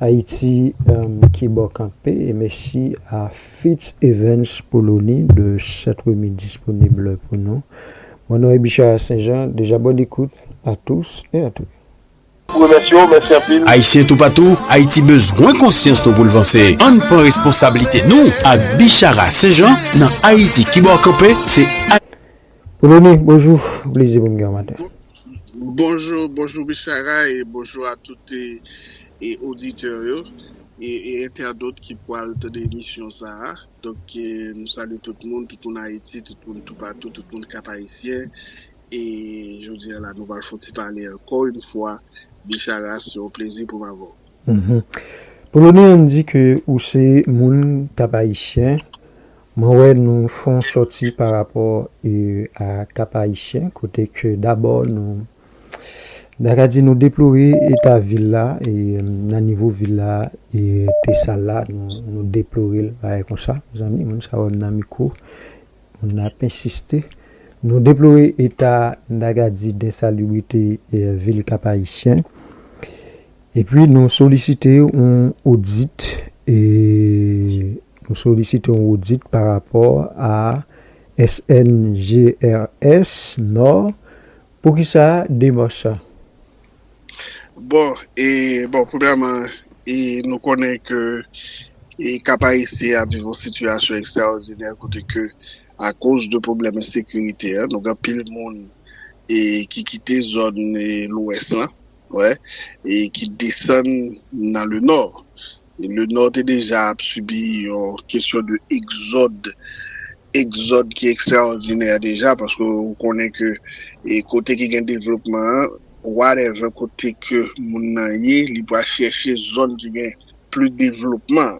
Ayiti ki bo kanpe e mesi a Fitz Evans pou loni de sèt remi disponible pou nou. Mon non e Bichara Sen Jan, deja bonne écoute a tous et a toutes. Remèsye w, mèsi anpil. Ayisyen toupatou, Ayiti bezwen konsyans nou pou l vanse. Ann pran responsablite nou ak Bichara St-Jean nan Ayiti Kibòkanpe se. Rony, bonjou, plezi pou m gen w maten. Bonjou, bonjou Misye Aga e bonjou a tout oditè yo e entèdot ki pwal tande emisyon sa a. Donk nou salye tout moun, tout moun Ayiti, tout moun toupatou, tout moun Kap Ayisyen e jodi a la nou pral fon ti pale ankò yon fwa Misye Aga se yon plezi pou m avè w. Poloni an di ke ou se moun Kap Ayisyen, Mwen wè nou fon sòti pa rapò a Cap Haïtien kote ke dabò nou ta ka di nou deplore eta vil la nan nivo vil la te sal la nou deplore l bagay konsa mezanmi moun sa wè m nan mikwo moun nan ap ensiste nou deplore eta m ta ka di densalubrite vil Cap Haïtien epi nou solisite yon odit e. Nou solisite yon odit pa rapò a SNGRS no. Poukisa demach sa? Bon, e bon premyèman e nou konnen ke e Kap Ayisyen ap viv yon sitiyasyon ekstraòdinè kote ke akoz de pwoblèm ensekirite a nou gen anpil moun e ki kite zòn e lwès lan. wè, e ki desann nan le nò. Le nò te deja ap sibi yon kesyon de egzòd, egzòd ki ekstraòdinè deja, paske ou konnen ke e kote ki gen devlopman an, whatever kote ke moun nan ye, li pral chèche zòn ki gen pli devlopman.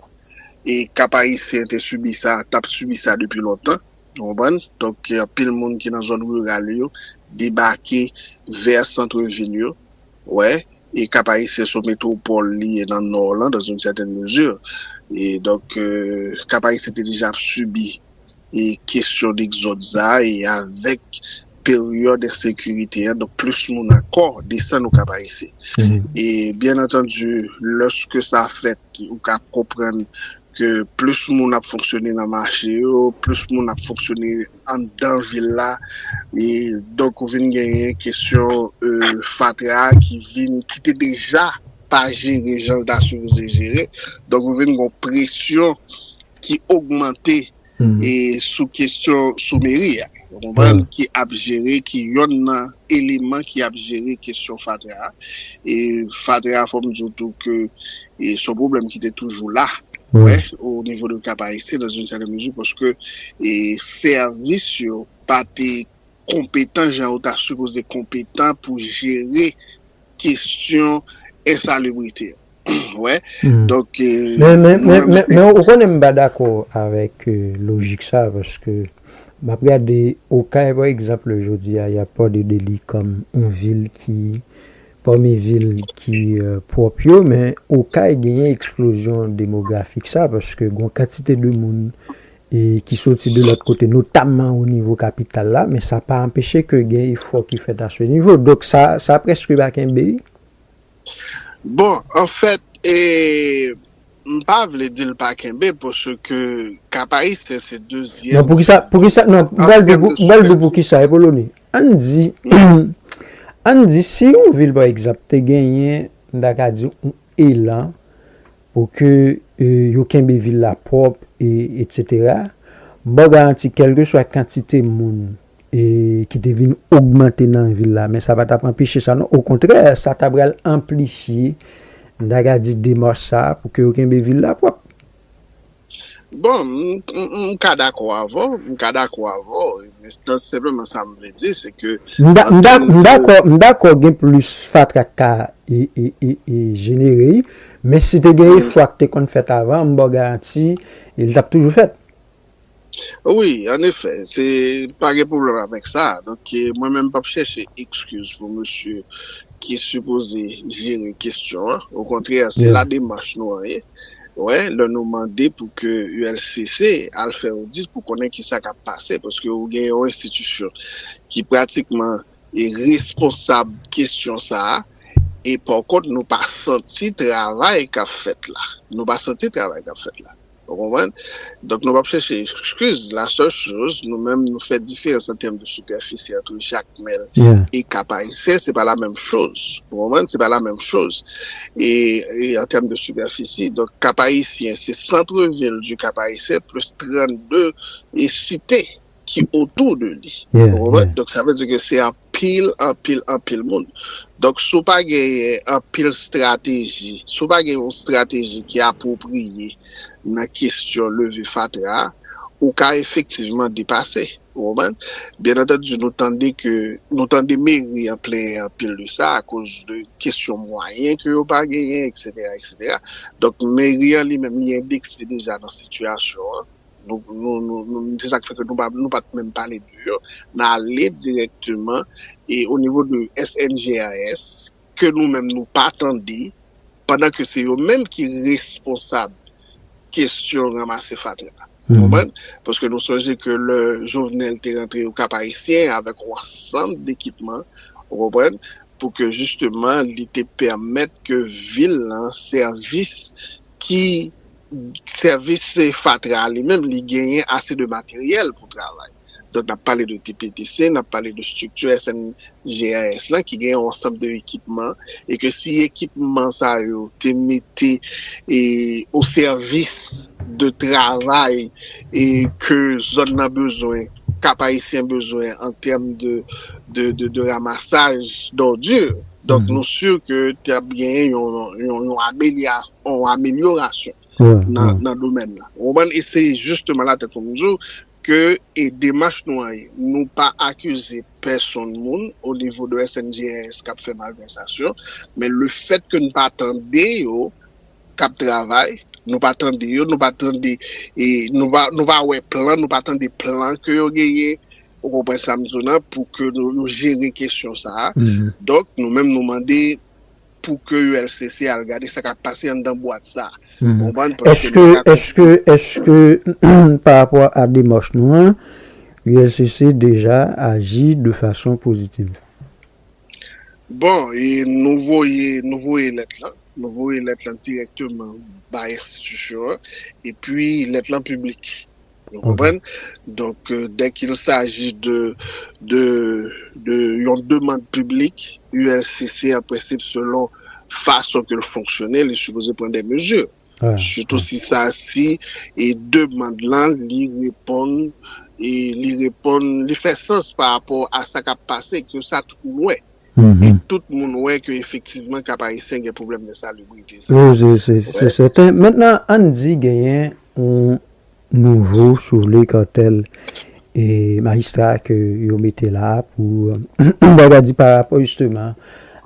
E Kap Ayisyen te sibi sa, tap sibi sa depi lontan. Ou konprann? Donk gen anpil moun ki nan zòn riral yo debake vè santre vil yo. Ou wè? E Kap Ayisyen son metwopòl li ye nan Nò lan dans une certaine mesure. E donk Kap Ayisyen te deja ap sibi e kesyon dekzòd sa a e avèk peryòd ensekirite an donk plis moun ankò desann o Kap Ayisyen. E byen antandi lòske sa fèt ou ka konprann ke plis moun ap fonksyone nan mache yo, plis moun ap fonksyone anndan vil la, e donk ou vin genyen kesyon fatra ki vin, ki te deja pa jere jan l ta sipoze jere, donk ou vin gon presyon ki ogmante. sou kesyon sou meri a ou konprann ki ap jere ki yonn nan eleman ki ap jere kesyon fatra a e fatra a fòm di w tou ke son pwoblèm ki te toujou la wè o nivo de kap ayisyen nan zin sèten mezi paske e sèvis yo pa te konpetan jan yo ta sipoze konpetan pou jere. kesyon ensalubrite wè donk men men men men ou konnen m pa dakò avèk lojik sa paske m ap gade okay pa egzanple jodi a y ap pale de li kòm yon vil ki pami vil ki pwòp yo men okay genyen eksplozyon demografik sa paske gon kantite de moun e ki soti de lòt kote notamman o nivo kapital la, men sa pa anpeche ke gen efò ki fèt a se nivo. Donk sa, sa prèske pa kenbe. Bon, an fèt, e m pa vle di l pa kenbe paske Kap Ayisyen se dezyèm. Non, poukisa, poukisa, non, m pral di w, m pral di w poukisa, Epoloni. Ann di, ann di si yon vil pa egzanp te genyen, m ta ka di w, yon elan Pou ke yo kenbe vil la pwòp e etc. Baw garanti kèlkeswa kantite moun ki te vin ogmante nan vil la men sa pa tap anpeche sa non okontrè sa ta pral anplifye mta ka di demach sa pou ke yo kenbe vil la pwòp. Bon, m ka dakò avè w, m ka dakò avè w, men senpleman sa m vle di se ke an tèm de. M dakò, m dakò gen plis fatra k ka jenere, men si te gen efò a ki te konn fèt avan, m ba w garanti li t ap toujou fèt. Wi, an efè, se pa gen pwoblèm avèk sa. Donk mwen menm m p ap chèche ekskiz pou mesye ki sipoze jere kesyon an, okontrè se la demach nou an ye. Wè, lè nou mande pou ke ULCC al fè odit pou konnen ki sa k ap pase, paske ou gen yon enstitisyon ki pratikman e responsab kesyon sa a, e pòkont nou pa santi travay k ap fèt la. Nou pa santi travay k ap fèt la. Ou konprann? Donk nou p ap chèche ekskiz. Lasèl choz, nou menm nou fè diferans an tèm de sipèfisi antre jak men e ka parisien se pa la menm choz ou konprann se pa la menm choz e an tèm de sipèfisi donk ka parisien se centre vil di ka parisien plis 32 e site ki otou de li ou konprann donk sa vle di ke se anpil anpil anpil moun donk si w pa genyen anpil strateji si w pa gen yon strateji ki apwopriye nan kesyon leve fatra ou ka efektivman depase. Ou konprann? Byen antandi nou tande ke, nou tande meri an plenyen anpil de sa akoz de kesyon mwayen ke yo pa genyen eksetera eksetera. Donk meri an li menm li endekse deja nan sitiyasyon an. Nou, nou, nou, nou, se sa k fè ke nou pa, nou pa t menm pale de yo. N ale dirèkteman e onivo de SNGRS ke nou menm nou pa tande pandan ke se yo menm ki responsab kesyon ranmase fatra a. Ou konprann? Paske nou sonje ke lè Jovenel te rantre au Cap Haïtien avèk yon ansanm dekipman, ou konprann, pou ke jisteman li te pèmèt ke vil lan sèvis ki sèvis fatra a li menm li genyen ase de materyèl pou travay. Donk n ap pale de TPTC, n ap pale de estrikti SNGRS lan ki gen yon ansanm de ekipman e ke si ekipman sa yo te mete o sèvis de travay e ke zòn nan bezwen, Kap Ayisyen bezwen an tèm de ramasaj dòdi. Donk nou si ke t ap gen yon amelyorasyon nan domèn nan. Ou konprann? E se jisteman la tèt fò m di w, Ke e demach nou an ye. Nou pa akize pèsonn moun o nivo de SNJRS kap fè malvèsasyon, men le fèt ke n pa tande yo kap travay, nou pa tande yo, nou pa tande e nou pa nou pa wè plan, nou pa tande plan ke yo genyen, ou konprann sa m di w nan, pou ke yo jere kesyon sa a. Donk nou menm nou mande. pou ke ulcc al gade sa kap pase anndan bwat sa ou konprann paske nou paka konprann. Eske pa rapò a demach nou an ulcc deja aji de fason pozitiv? Bon nou voye nou voye lèt lan nou voye lèt lan dirèkteman bay enstitisyon an epi lèt lan piblik. Nou konprann? Donk, dè kil saji de, de, de yon demand piblik, ULCC an prensip selon fason ke l fonksyone, li sipoze pran dè mezi. Sitou si sa, si e demand lan li reponn, e li reponn, li fè sans pa rapò a sa k ap pase, ke sa tout moun wè. E tout moun wè ke efektivman Kap Ayisyen gen pwoblèm de salubrite sa. Wi, se, se, se sèten. Mentnan, ann di genyen yon Nouvo soule kantèl e majistra ke yo mete la a pou baga di pa rapò jisteman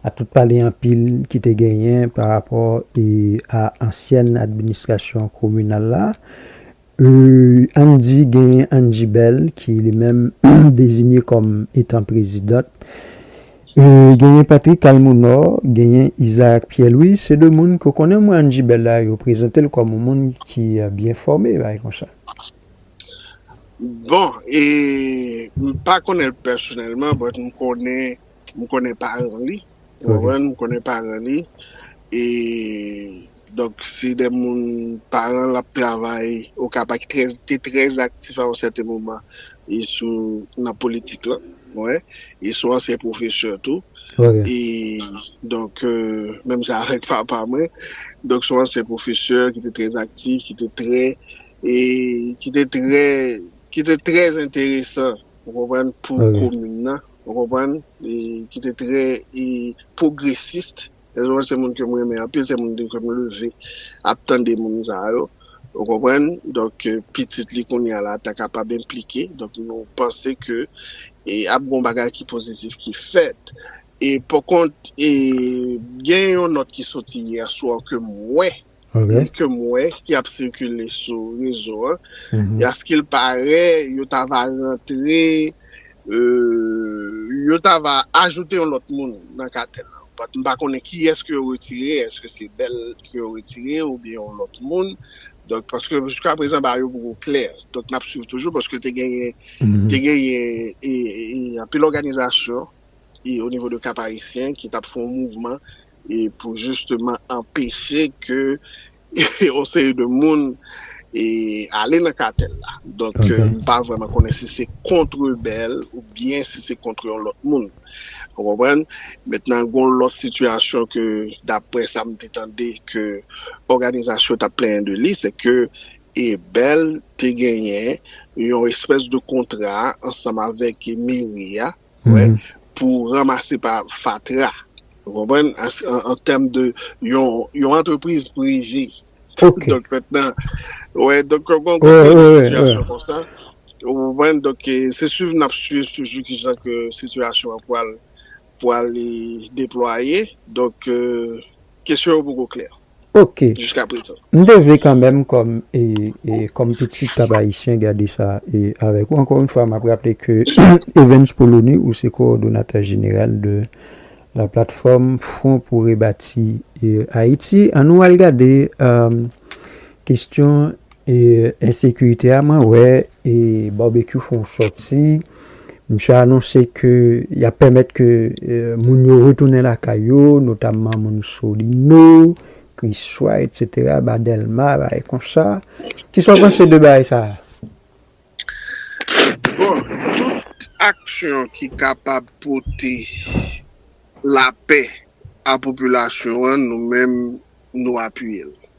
a tout pale anpil ki te genyen pa rapò e a ansyèn administrasyon kominal la. Ann di genyen Angie Bell ki li menm dezinye kòm etan prezidant. Genyen Patrick Almonor, genyen Isaac Pierre Louis, se 2 moun ke w konnen mwen an Jibel la, yo prezante l kòm yon moun ki byen fòme, bagay konsa. Bon, m pa konnen l pèsonèlman, but m konnen, m konnen paran li, ou konprann, m konnen paran li, e Donk se de moun paran l ap travay Okap a ki trè te trè aktif a yon sèten moman e sou nan politik lan wè e son ansyen pwofesè tou e donk menm jan avèk papa mwen donk son ansyen pwofesè ki te trè aktif ki te trè e ki te trè ki te trè enteresan ou konprann pou komin nan ou konprann e ki te trè e pwogresist. Elon se moun ke m renmen anpil, se moun ke m leve ap tande moun sa yo, ou konprann, donk pitit li kounye a la ta kapab enplike, donk nou panse ke ap gen yon bagay ki pozitif ki fèt. E pòkont, gen yon nòt ki soti yèswa ke m wè, li ke m wè ki ap sikile sou rezo an e a ske l pare yo ta va rantre yo ta va ajoute yon lòt moun nan katèl la but m pa konnen kiyès ke yo retire eske se bèl ke yo retire oubyen yon lòt moun donk paske jiska prezan bagay yo poko klè donk n ap swiv toujou paske te genyen te genyen e anpil òganizasyon e o nivo de kap ayisyen ki t ap fè yon mouvman. e pou jisteman anpeche ke yon seri de moun e ale nan katèl la. Donk m pa vrèman konnen si se kont rebèl ou byen si se kont yon lòt moun. Ou konprann? Mentnan gon lòt sitiyasyon ke daprè sa m te tande ke òganizasyon t ap plenyen de li, se ke rebèl te genyen yon espès de kontra ansanm avèk meri a, wè, pou ranmase pa fatra, ou konprann, an tèm de yon antrepriz prive. Ok. Donk mètnan, wè, donk yo gon gwo pil sitiyasyon konsa, ou konprann, donk se swiv nap swiv toujou ki jan ke sitiyasyon an pwal pwal deplwaye, donk kesyon yo poko klè. Ok. Jiska prezan. M te vle kanmenm kòm e kòm pitit kap ayisyen gade sa e avèk ou. Ankò yon fwa map raple ke Evens Polony ou se kowòdonatè jeneral de la platfòm Fwon pou rebati Ayiti. An nou al gade kestyon E ensekirite a mwen wè e Barbecue fè yon sòti, misye anonse ke yap pèmèt ke moun yo retounen lakay yo, notamman moun Solino, Kriswa etc, ba Dèlma, bagay konsa. Kisa w panse de bagay sa a? Bon, tout aksyon ki kapab pote lapè a popilasyon an nou menm nou apiye l.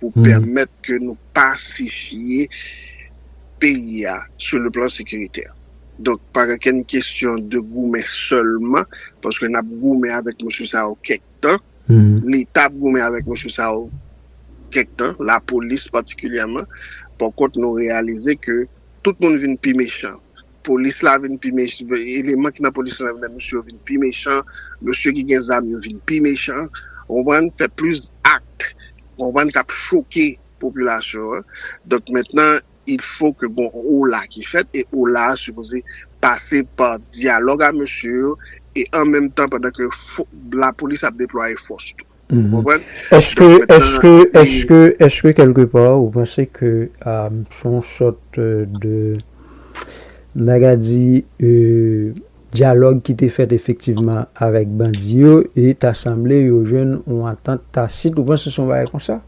pou pèmèt ke nou pasifye peyi a sou le plan sekiritè. Donk pa gen kenn kesyon de goumen sèlman, paske n ap goumen avèk mesye sa yo kèk tan, Leta ap goumen avèk mesye sa yo kèk tan, lapolis patikilyèman, pankont nou reyalize ke tout moun vin pi mechan. polis la vin pi mechan, eleman ki nan polis la vin msye yo vin pi mechan, msye ki gen zam yo vin pi mechan, ou konprann, fè plis akt, ou konprann, k ap choke popilasyon an. Donk mentnan, il fo ke gon ola ki fèt, e ola a sipoze pase pa dyalòg a msye yo, e an menm tan pandan ke lapolis ap deplwaye fòs tou. Ou konprann? Eske, eske, eske, eske kelke pa ou panse ke se yon sòt de, m ta ka di, dyalòg ki te fèt efektivman avèk bandi yo e ta sanble yo jwenn yon antant tasit, ou panse se yon bagay konsa?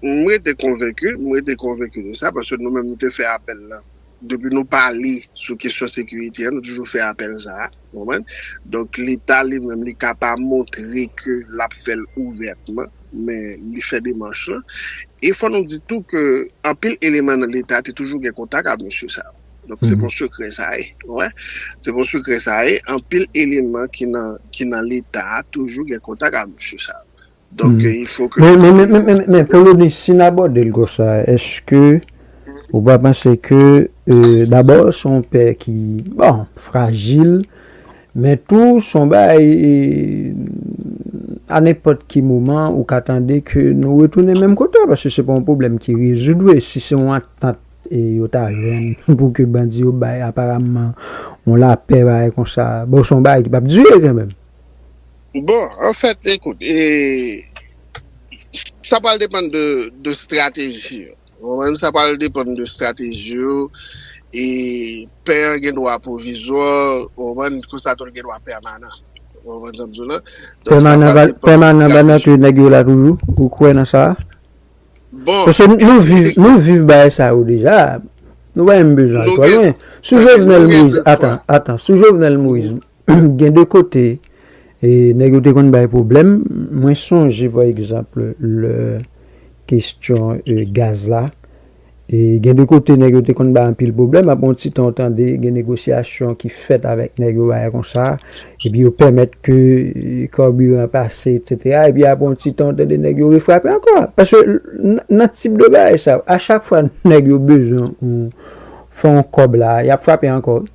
M rete konvenki, m rete konvenki de sa paske nou menm nou te fè apèl lan. Depi nou pale sou kesyon sekirite an, nou toujou fè apèl sa a, ou konprann? Donk leta li menm li ka pa montre ke l ap fè l ouvètman, men li fè demanch lan. E fò nou di tou ke anpil eleman nan leta te toujou gen kontak ak mesye sa yo. Donk se pa yon sekrè sa ye, ou wè. Se pa yon sekrè sa ye, anpil eleman ki nan leta a toujou gen kontak ak mesye sa yo. Donk gen info ke nou pa gen yo. Men Polonis, si n abòde l konsa, èske ou pa panse ke dabò se yon pè ki, bon, frajil, men tou se yon bagay a nenpòt ki moman ou ka tande ke nou retounen menm kote a paske se pa yon pwoblèm ki rezoud vre si se yon antant yo ta jwenn pou ke bandi yo bay aparamman yon lapè bagay konsa, bon se yon bagay ki p ap dire kanmenm. Bon, an fèt, ekout, e, sa pral depann de, de strateji yo. Ou konprann? Sa pral depann de strateji yo, e pè an gen dwa pwovizwa, ou konprann, konsa tou l gen dwa pèmanan. Ou konprann sa m di w la? Donk, sa pral depann de strateji yo. Pèmanan va nan tou nèg yo la toujou? Ou kwè nan sa a? Bon. Paske nou viv, nou viv bagay sa yo deja. Nou pa menm bezwen al twò lwen. Sou Jovenel Moïse, atan, atan, sou Jovenel Moïse. Gen de kote nèg yo te konn bay pwoblèm. Mwen sonje pa egzanp lè kestyon gaz la. Gen de kote nèg yo te konn bay anpil pwoblèm. Apre yon ti tan ou tande gen negosyasyon ki fèt avèk nèg yo bagay konsa. Epi yo pèmèt ke kabiran an pase etsetera. Epi apre yon ti tan ou tande nèg yo refrape ankò. Paske nan tip de bagay sa yo a chak fwa nèg yo bezwen fè yon kòb la a y ap frape ankò wi.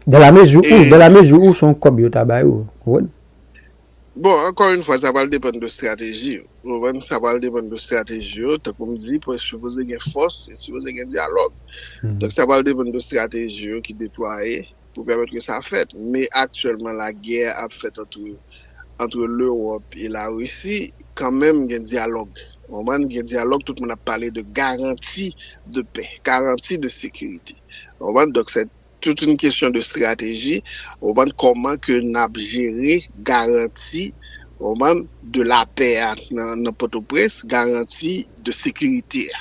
Dans la mesure où, dans la mesure où son kòb yo ta bay ou, konprann? Bon, ankò yn fwa sa pral depann de strateji yo, ou konprann, sa pral depann de strateji yo, tankoum di, pou sipoze gen fòs, e sipoze gen dyalòg. Donk sa pral depann de strateji yo ki deplwaye pou pèmèt ke sa fèt. Men aktyèlman la gè a ap fèt antre antre lewòp e la risi kanmenm gen dyalòg ou konprann gen dyalòg tout moun ap pale de garanti de pè garanti de sekirite ou konprann donk sè tout yn kesyon de strateji ou konprann kòman ke nap jere garanti ou konprann de la pè a nan potoprens garanti de sekirite a.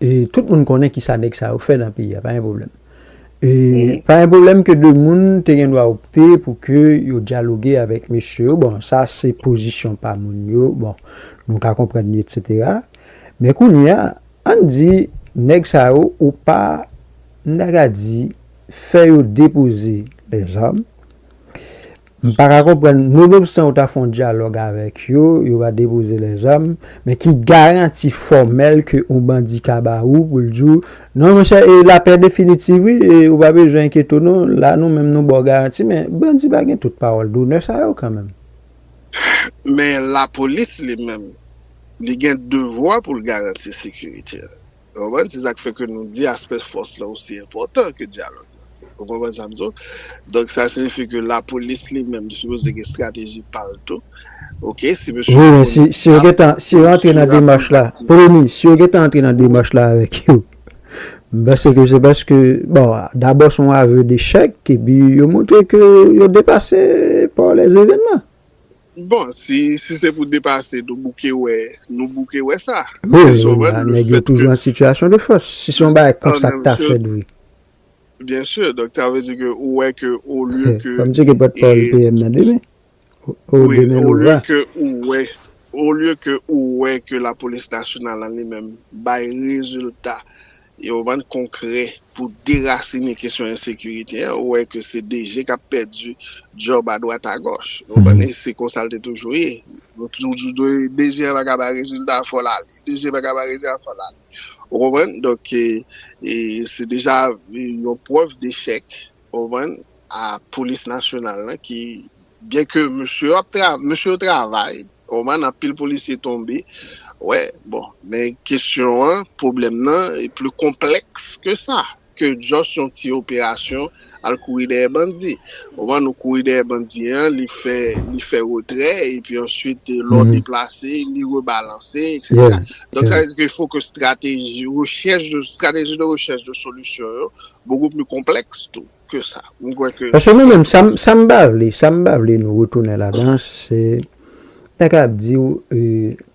e tout moun konnen ki sa nèg sa yo fè nan peyi a, pa gen pwoblèm. E pa gen pwoblèm ke 2 moun te gen dwa opte pou ke yo dyaloge avèk mesye yo, bon sa se pozisyon pa moun yo, bon nou ka konprann li etsetera. Men kounye a, ann di nèg sa yo ou pa, m ta ka di, fè yo depoze lèzam, M pa ka konprann nou menm san ou ta fè yon dyalòg avèk yo, yo va depoze lèzam, men ki garanti fòmèl ke yon bandi ka ba ou pou l di w, non monchè e lapè definitiv wi e ou pa bezwen enkyete w non, la nou menm nou ba w garanti men bandi pa gen tout pawòl donè sa yo kanmenm. Men lapolis li menm li gen devwa pou l garanti sekirite a. Ou konprann? Se sa k fè ke nou di aspè fòs lan osi enpòtan ke dyalòg lan. Ou konprann sa m di w? Donk sa siyifi ke lapolis li menm li sipoze gen estrateji pa l tou. Ok, si mesye yo konn zak, si mesye yo ap konn zak tirè. Premye, si yo gen tan antre nan demach la avèk yo, m panse ke se paske, bon, dabò se yon avwe dechèk, epi yo montre ke yo depase pa lèzevènman. Bon si si se pou depase nou bouke wè nou bouke wè sa Wi wi wi la nèg yo toujou an sitiyasyon de fòs si se yon bagay konsa ki ta fèt wi. Byen sûr donk sa vle di ke ou wè ke olye ke Fòm tcheke pòt pawòl PM nan demen oh demen nou va. Olye ke ou wè olye ke ou wè ke lapolis nasyonal an li menm bay rezilta. yo bann konkrè pou derasine kesyon ensekirite an, ou wè ke se DG k ap pèdi djòb adwat agòch. Ou konprann? E se konsa l te toujou ye. Yo toujou di DG an pa ka bay rezilta, fò l ale. DG an pa ka bay rezilta, fò l ale. Ou konprann? Donk, se deja yon prèv dechèk. Ou konprann? A polis nasyonal lan ki byen ke mesye yo ap travay, mesye yo travay, ou konprann, anpil polisye tonbe, wè, bon, men kesyon an, pwoblèm nan e pli konplèks ke sa, ke just yon ti operasyon al kouri dèyè bandi. Ou konprann, ou kouri dèyè bandi an, li fè, li fè retrè, epi answit lè w deplase, li rebalanse, eksetera. Donk sa vle di ke fo ke strateji rechèch, strateji de rechèch de solisyon yo, Beaucoup plus complexe tou ke sa. Mwen kwè ke Paske nou menm, sa m pa vle, sa m pa vle nou retounen ladan, se nèg la ap di w,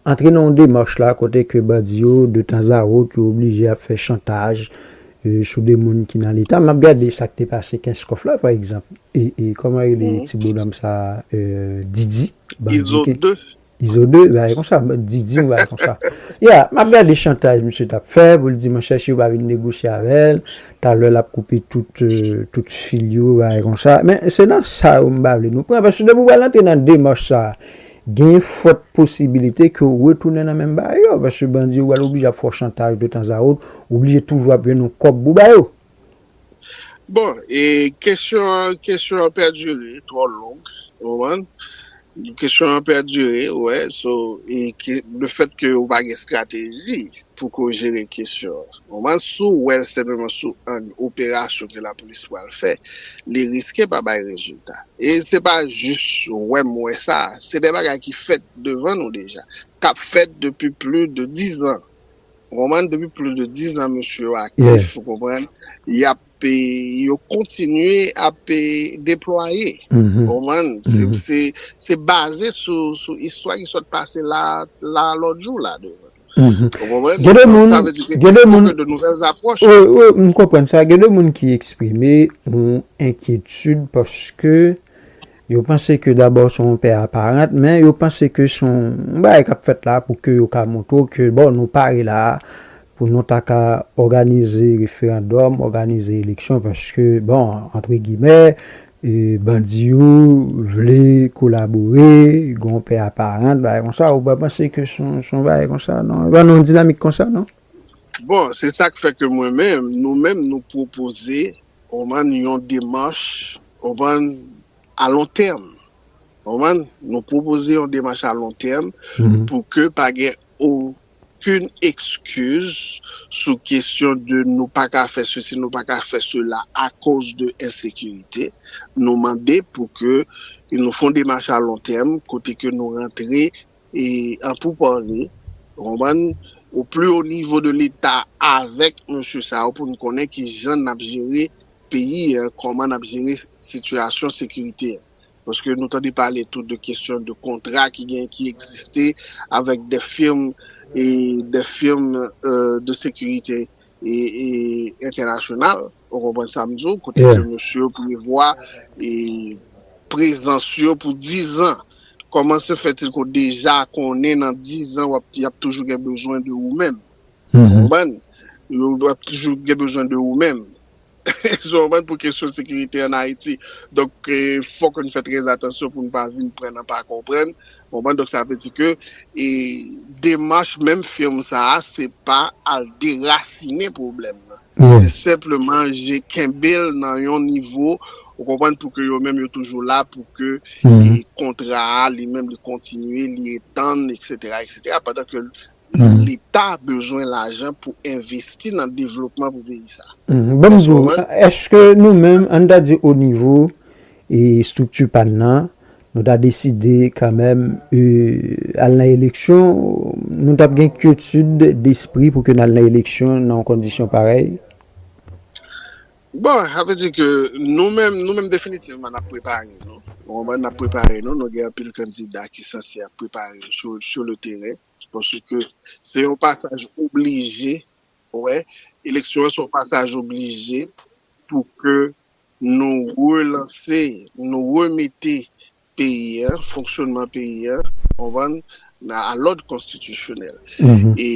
antre nan yon demach la kote ke bandi yo de tanzawot yo oblije ap fè chantaj sou de moun ki nan leta. M ap gade sa k te pase kenskof la pa egzanp, kòman rele ti bonòm sa a, Didi. Izo 2. Izo 2, yon bagay konsa, Didi yon bagay konsa. Ya, m ap gade chantaj misye t ap fè pou l di mon chè si yo pa vin negosye avè l, talè l ap koupe tout fil yo, yon bagay konsa. Men se nan sa yo m pa vle nou pran paske depi w pral antre nan demach sa a, gen fòt posibilite ke w retounen nan menm bagay yo paske bandi yo pral oblije ap fè w chantaj de tanzawot, w oblije toujou ap jwenn yon kòb pou w ba yo. Bon e kesyon an kesyon an pèdire li twò long ou konprann kesyon an pèdire wè so e ke le fèt ke ou pa gen estrateji pou ke w jere kesyon an ou konprann si w wè l senpleman sou ang operasyon ke lapolis pral fè li riske pa bay rezilta e se pa jis wè m wè sa se de bagay ki fèt devan nou deja k ap fèt depi pli de dizan Ou konprann depi plis de 10 ans mesye yo aktif ou konprann yap yo kontinye ap deplwaye ou konprann se baze sou istwa ki sot pase la la lot jou la ou konprann gen de moun gen de moun m konprann sa gen de moun ki eksprime yon enkyetid paske Yo panse ke dabò se yon pè aparant, men yo panse ke se yon bagay kap fèt la pou ke yo ka montre w ke bon nou pare la a pou nou ta ka òganize referandòm, òganize eleksyon paske bon antre gimè bandi yo vle kolabore, gen yon pè aparant bagay konsa, ou pa panse ke se yon bagay konsa non, se pa nan yon dinamik konsa non. Bon, se sak fè ke mwen menm, nou menm nou pwopoze Ou konprann? Yon demach, ou konprann, a lon tèm. Ou konprann? Nou pwopoze yon demach a lon tèm pou ke pa gen okenn ekskiz sou kesyon de nou pa ka fè sesi, nou pa ka fè sela akoz de ensekirite. Nou mande pou ke nou fon demach a lon tèm kote ke nou rantre. e an pou pale ou konprann o pli ho nivo de leta avèk mesye sa yo pou nou konnen ki jan nap jere peyi an kòman nap jere sitiyasyon sekirite an paske nou tande pale tou de kesyon de kontra ki gen ki egziste avèk de firm e de firm de sekirite e e entènasyonal ou konprann sa m di w kote ke mesye yo prevwa e prezans yo pou 10 ans Koman se fè Tilco deja konnen nan 10 ans wap yap toujou gen bezwen de ou menm. Ou konprann? Yo ap toujou gen bezwen de ou menm. Eskew konprann pou kesyon sekirite an Ayiti. Donk fòk nou fè trè atansyon pou nou pa vin pran nan pa konprann. Ou konprann? Donk sa vle di ke demach menm firm sa a se pa al derasinen pwoblèm nan. men senpleman je kenbe l nan yon nivo ou konprann pou ke yo menm yo toujou la pou ke kontra a li menm li kontinye li etann eksetera eksetera pandan ke leta bezwen lajan pou envesti nan devlopman pou peyi sa. Ban m di w eske nou menm an n ta di onivo estrikti pa n nan Nou ta deside kanmenm al nan eleksyon, nou tap gen kyetid despri pou ke n al nan eleksyon nan yon kondisyon parèy? Bon, sa vle di ke nou menm, nou menm definitivman n ap prepare nou. Ou konprann? N ap prepare nou. Nou gen anpil kandida ki sanse ap prepare yo sou, sou le teren. Paske se yon pasaj oblije, ou wè, eleksyon an se yon pasaj oblije pou ke Nou relanse, nou remete peyi a, fonksyonman peyi a, ou konprann, a lòd konstitisyonèl. E,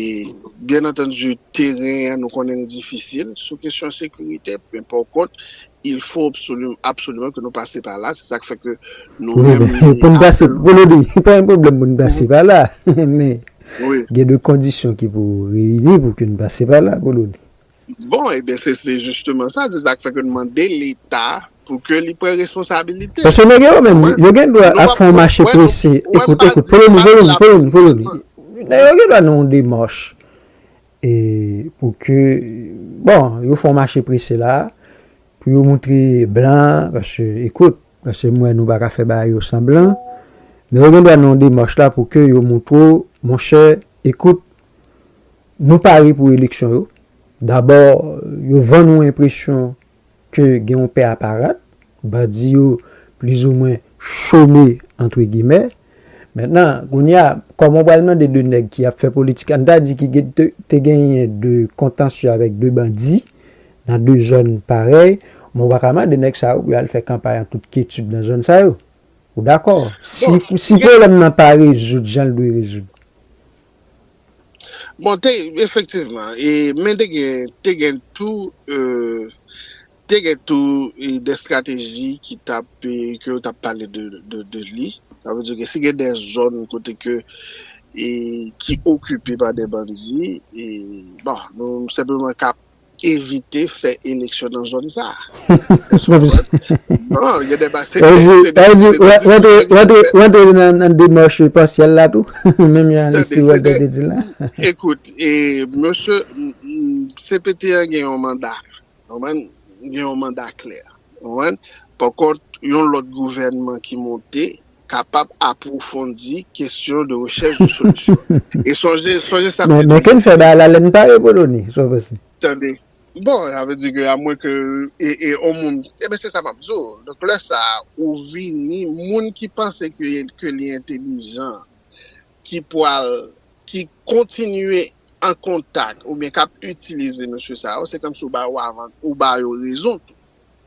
byen antandi, teren an nou konnen li difisil sou kesyon sekirite, men pò kont, il fo absoliman ke nou pase pa la, se sa k fè ke nou menm li apèl. Pou n pase, pou nou di, pa gen pwoblèm pou n pase pa la, men gen de kondisyon ki pou reyini pou ke n pase pa la, pou nou di. Bon, ebyen se se jisteman sa, se sa k fè ke n mande Leta pou ke li pran responsabilite l. Paske nèg yo menm, Mwen, yo gen dwa nou ap pa fè yon mache wè nou, prese. wè nou Ekout, pa ekout, di, follow me, pa follow di me, la follow me, follow me. piblikman. Nèg yo gen dwa nan yon demach e pou ke, bon, yo fè yon mache prese la, pou yo montre blan, paske, ekout, paske m wè nou pa ka fè bagay yo san blan, nèg yo gen dwa nan yon demach la pou ke yo montre w, monchè, ekout, Nou pare pou eleksyon yo. Dabò, yo vann ou enpresyon ke gen yon pè a parad. Bandi yo plizoumwen chome antre gimè. Mentnan, kounye a, kòman ou pral mande de nèg ki ap fè politik, ann ta di ki te genyen de kontansye avèk de bandi nan de zòn parèy, men ou pa ka mande nèg sa yo pou yo al fè kanpay an tout kyetid nan zòn sa yo. Ou dakò? Si pwoblèm nan pa rezoud jan l dwe rezoud. Bon te efektivman e men te gen te gen tou e te gen tou e de estrateji ki t ap e ke yo t ap pale de de de li sa vle di ke si gen de zòn kote ke e ki okipe pa de bandi e bon nou senpleman ka evite fè eleksyon nan zòn sa a. Èske sa vre? Non, gen de ba se de diskou. Sa vle di, sa vle di, wè te, wè te nan demèche pasyèl la tou, menm jan li si wè te di la. Ekout, e, monsye, CPT a gen yon manda, konprann, gen yon manda klè, konprann, pankont, yon lòt gouvènman ki monte, kapab apwofondi kesyon de rechèch de solisyon. E sonje, sonje sa m te toujou di. Men ken fè bagay la lè n pa reponn ni, sa w panse? Tande. Bon, sa vle di ke a mwen ke e on moun, eben se sa m ap di w. Donk lè sa a ou vini, moun ki panse ke ke li entelijan, ki pwal, ki kontinye an kontak oubyen k ap itilize mesye sa yo, se kòmsi ou ba yo avan, ou ba yo rezon tou.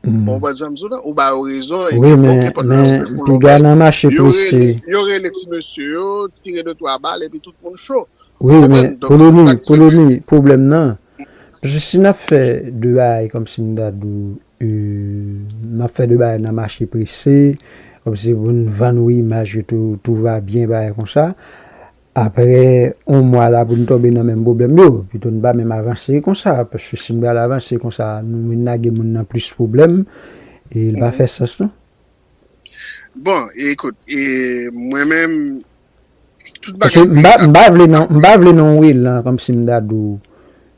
Bon, wè sa m di w la, ou ba yo rezon e pi bon kepòt la yo defon lò men, yo rele, yo rele ti mesye yo, tire de twa bal e pi tout moun cho. Ou konprann? Donk se sa k fè ke. Wi, men, pwoblèm nan, paske si n ap fè de bagay kòm si m ta di w, n ap fè de bagay nan mache prese, kòm si pou n vann ou imaj ke tou va byen bagay konsa, Aprè on mwa la pou n tonbe nan menm pwoblèm yo? Pito n pa menm avanse konsa paske si n pral avanse konsa nou vin lage moun nan plis pwoblèm e l pa fè sans non. Bon, ekout, e mwen menm tout bagay yo ap M pa vle nan, m pa vle nan yon elan kòmsi m ta di w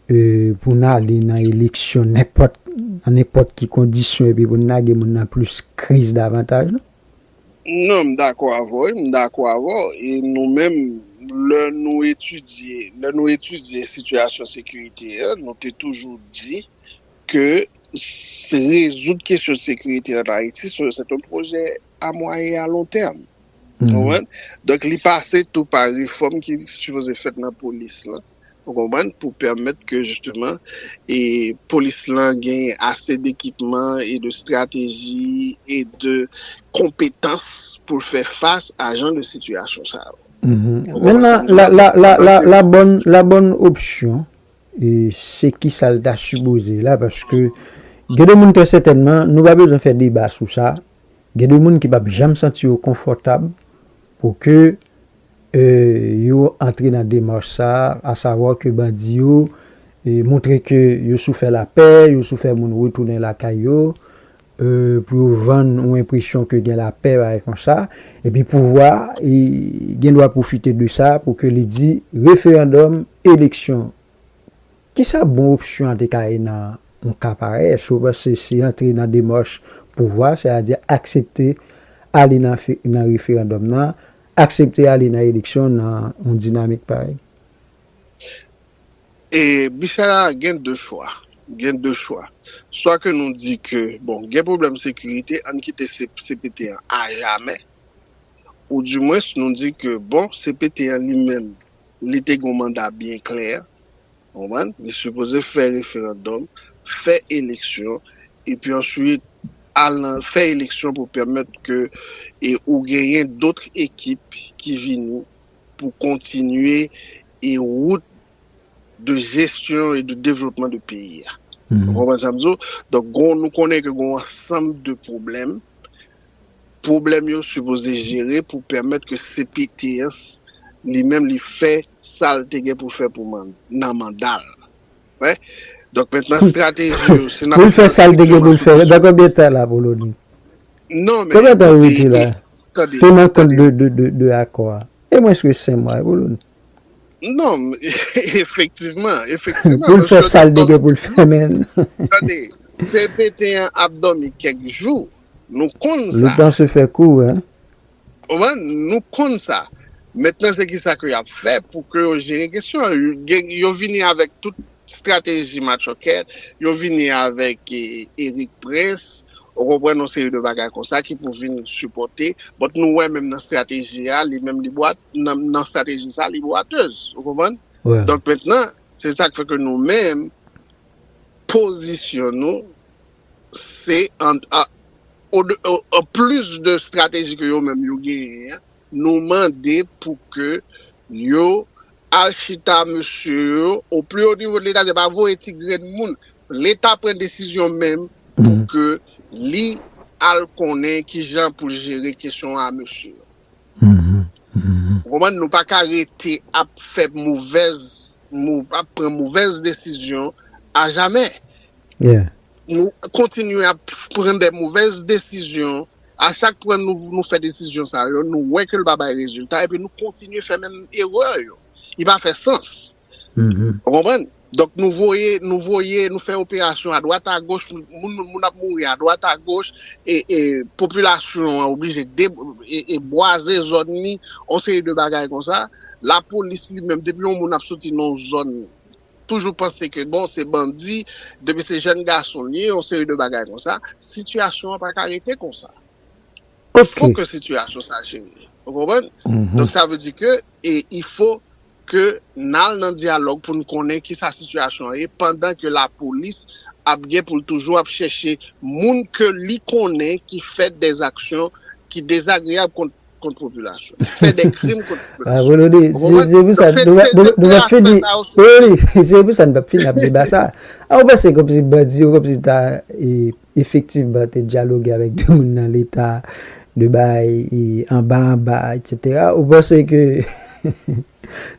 e pou n ale nan eleksyon nenpòt, nan nenpòt ki kondisyon epi pou n lage moun nan plis kriz davantaj non. Non, m dakò avè w wi, m dakò avè w e nou menm lè nou etidye, lè nou etidye sitiyasyon sekirite a, nou te toujou di ke rezoud kesyon sekirite an Ayiti se yon pwojè a mwayen e a lon tèm. Ou konprann? Donk li pase tou pa refòm ki sipoze fèt nan polis lan. Ou konprann? Pou pèmèt ke jisteman e polis lan gen ase dekipman e de strateji e de konpetans pou l fè fas a jan de sitiyasyon sa yo. Mètnan, la bòn opsyon e se ki sa l ta sipoze la paske gen de moun trè sètènman, nou pa bezwen fè deba sou sa, gen de moun ki p ap janm santi yo konfòtab Pou ke yo antre nan demach sa a, asavwa ke bandi yo montre ke yo sou fè lapè, yo sou fè moun retounen lakay yo, pou yo vann yon enpresyon ke gen lapè, bagay konsa, epi pouvwa a gen dwa pwofite de sa pou ke li di referandòm, eleksyon Kisa bon opsyon an te ka ye nan yon ka parèy? Èske ou panse se antre nan demach pouvwa a, sètadi aksepte ale nan referandòm nan, aksepte ale nan eleksyon nan yon dinamik parèy? E Michel a gen 2 chwa, gen 2 chwa. Swa ke nou di ke bon gen pwoblèm sekirite, ann kite cpt an ajamè, ou dimwens nou di ke bon cpt an li menm li te gen yon manda byen klè, ou konprann, li sipoze fè referandòm, fè eleksyon, epi answit al nan, fè eleksyon pou pèmèt ke e ou genyen dotr ekip ki vini pou kontinye e wout de jesyon e de devlopman de peyi a. Ou konprann sa m di w? Donk gon, nou konnen ke gon ansanm de pwoblèm Pwoblèm yo sipoze jere pou pèmèt ke cpt an li menm li fè sa l te gen pou l fè pou nan manda l. Wè? Donk mentnan estrateji yo si n ap pran strikteman sou kesyon. Nan konbyen tan la Apoloni? Non men. Konbyen tan Rudy la? Tande. Pou nan kont de akò a. E mwens ke 5 mwa Apoloni. Non. Efektivman. Efektivman. Pou l fè sa l te gen pou l fè men. Tande. Cpt an ap dòmi kèk jou. Nou konn sa. Le temps se fè kou hein. Konprann? Nou konn sa. Mentnan se kisa ke yap fè pou ke yo jere kesyon an. Gen, yo vini avèk tout strateji matchòkèt, yo vini avèk Eric Prince, ou konprann, yon seri de bagay konsa ki pou vin sipòte. But nou wè menm nan strateji a, li menm li bwat, nan, nan strateji sa li bwatez. Ou konprann? Wi. Donk mentnan, se sak fè ke nou menm, pozisyon nou. Se an plis de strateji ke yo menm yo genyen an, nou mande pou ke yo al chita mesye yo o pli o nivo de leta, se pa voye ti grenn moun, leta pran desizyon menm pou ke li al konnen kijan pou l jere kesyon a mesye yo. Ou konprann? Nou pa ka rete ap fè movèz, ap pran movèz desizyon ajamè. Nou kontinye ap pran de movèz desizyon, a chak pran nou fè desizyon sa yo, nou wè ke l pa bay rezilta, epi nou kontinye fè menm erè yo. Li pa fè sans. Ou konprann? Donk nou voye, nou voye, nou fè operasyon adwat agoch, moun ap mouri adwat agoch, e popilasyon an oblije bwaze zòn li, yon seri de bagay konsa. Lapolis li menm, depi yon moun ap soti nan yon zòn, toujou panse ke bon, se bandi, depi se jèn gason li ye, yon seri de bagay konsa. Sitiyasyon an pa ka rete konsa. Ou fo ke sitiyasyon sa cheri. Ou konprann? Donk sa vle di ke e il fo ke n al nan dyalòg pou n konnen ki sa sitiyasyon an ye pandan ke lapolis ap gen pou l toujou ap chèche moun ke li konnen ki fè dèzaksyon ki dezagreyab kont kont popilasyon. Ki fè dè krim kont popilasyon. Ou konprann? Se pou sa n nou pa nou pa fini. Wi, wi. Se pou sa n pa fini ap deba sa. A ou panse kòmsi bandi yo kòmsi ta e. Efektivman te dyaloge avèk 2 moun nan leta de bay anba anba etc. Ou panse ke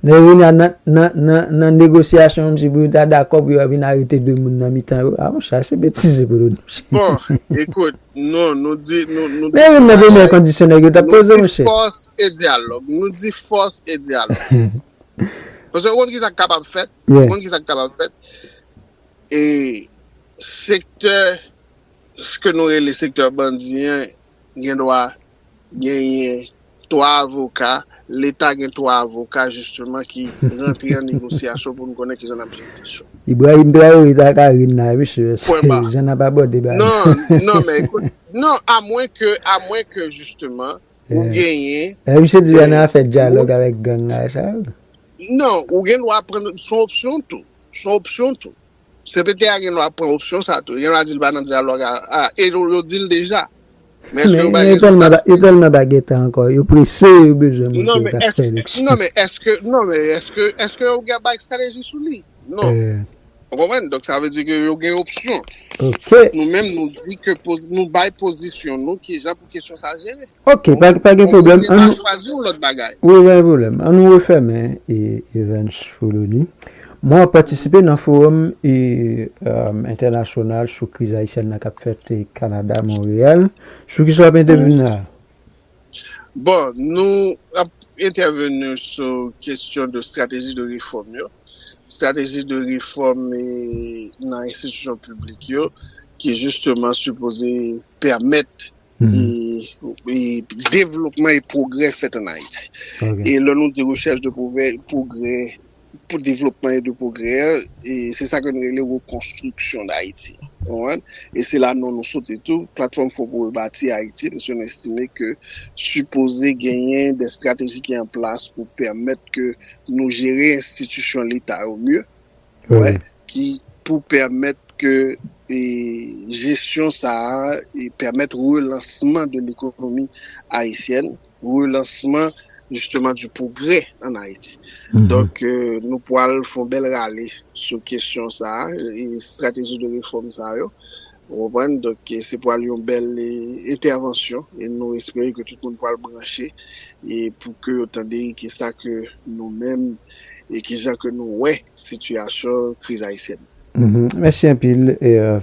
nan vin a nan negosyasyon an msi pou yo ta dakò pou yo vin arete 2 moun nan mitan yo a monchè se betize pou nou di monchè. Bon ekout non nou di nou nou di yon bagay nou di fòs e dyalòg nou di fòs e dyalòg paske ou konn kisa k kapab fèt ou konn kisa k kapab fèt e. Sektè ke nou rele sektè bandi an gen dwa genyen 3 avoka, leta gen 3 avoka jisteman ki rantre an negosyasyon pou nou konnen kijan n ap jere kesyon. Ibrahim Traoré ta ka ri n la wi mesye, Pwen ba. jan n ap abòde bagay. Non, non men ekout, non a mwen ke, a mwen ke jisteman ou genyen. Epi misye di an a fè dyalòg avèk gang la e sa yo. Non, ou gen dwa pran, son opsyon tou, son opsyon tou. Sekretè a gen dwa pran opsyon sa tou. Li gen dwa di li pa nan dyalòg a. A, e yo di l deja. Men èske yo bay rezilta sou sa? Yo tèlman bagetan ankò. Yo prese, yo bezwen montre yo ka fè eleksyon. Non men èske, non men èske, èske yo gen bay strateji sou li? Non. Ou konprann? Donk sa vle di ke yo gen opsyon. Ok. Nou menm nou di ke poz, nou bay pozisyon nou kijan pou kesyon sa jere. Ok, pa gen pwoblèm. Ou ka chwazi yon lòt bagay. Wi, pa gen pwoblèm. An nou refèmen Evans Foloni. Mwen ap patisipe nan fowòm entènasyonal sou kriz ayisyèn nan k ap fèt Kanada, Monreyal. Sou ki sa w ap entèveni la? Bon, nou ap entèveni sou kesyon de estrateji de refòm yo. Estrateji de refòm nan enstitisyon piblik yo ki jisteman sipoze pèmèt devlopman e pwogrè fèt an Ayiti. E lè nou di rechèch de pwogrè, pou devlopman e de pwogrè, se sa ke nou rele rekonstriksyon d'Ayiti. E se la non nou soti tou, Platfòm Fò pou Rebati Ayiti, paske nou estime ke sipoze genyen de strateji ki an plas pou pèmèt ke nou jere enstitisyon leta yo mye, ki pou pèmèt ke jesyon sa a pèmèt relansman de lekonomi ayisyèn, relansman jisteman di pwogrè an Ayiti. Donk nou pwal fon bèl rale sou kesyon sa a, estrateji de refòm sa yo. Ou konprann? Donk se pwal yon bèl entèvansyon e nou espere ke tout moun pwal branche e pou ke yo tande ki sa ke nou menm e ki jan ke nou wè sitiyasyon kriz ayisyèn nan. Mèsi anpil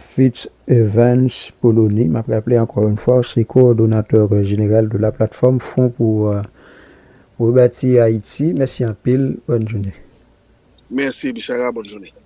Fritz Evans Polony. M ap raple ankò yon fwa ou se kowòdonatè jeneral de la Plateforme Front pour Rebâtir Haïti. Mèsi anpil. Bòn jounen. Mèsi Bishara. Bòn jounen.